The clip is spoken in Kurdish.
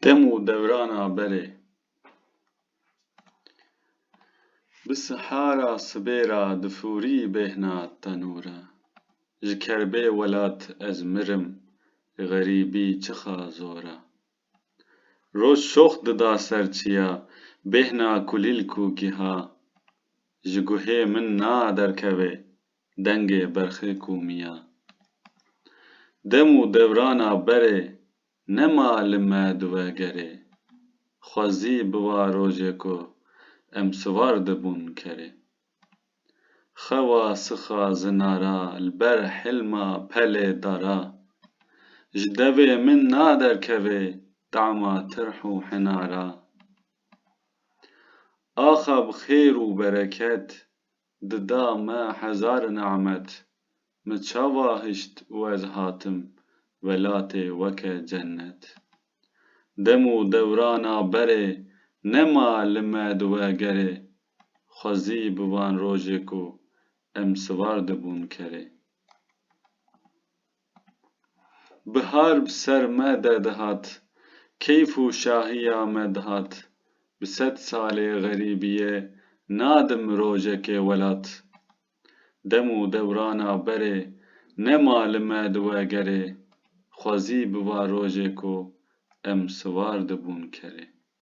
Dem û dewrana berê. Bi sihara sibê ra difûrî bêhna tenûre. Ji kerbê welat ez mirim, xerîbî çixa zor e. Roj şox dida ser çiya, bêhna kulîlk û giha. Ji guhê min na derkevê, dengê berxê ku miya. Dem û devrana berê nema li me diwe gerê. Xwezî biva rojê ku em sivar dibûn kerê. Xewa sixa zinara li ber hilma pelê dara. Ji devê min naderkevê tama tirh û hinara. Axa bi xêr û bereket dida me hezar nimet Min çawa hişt û ez hatim welatê weke cennet Dem û dewrana berê nema li me di we gerê Xwezî bi van rojê ku em siwar dibûn kerê. Bihar bi ser me de dihat, keyf û şahiya me dihat, bi sed salê xerîbiyê nadim rojekê welat. Dem û dewrana berê nema li me di we gerê, xwezî biva rojê ku em siwar dibûn kerê.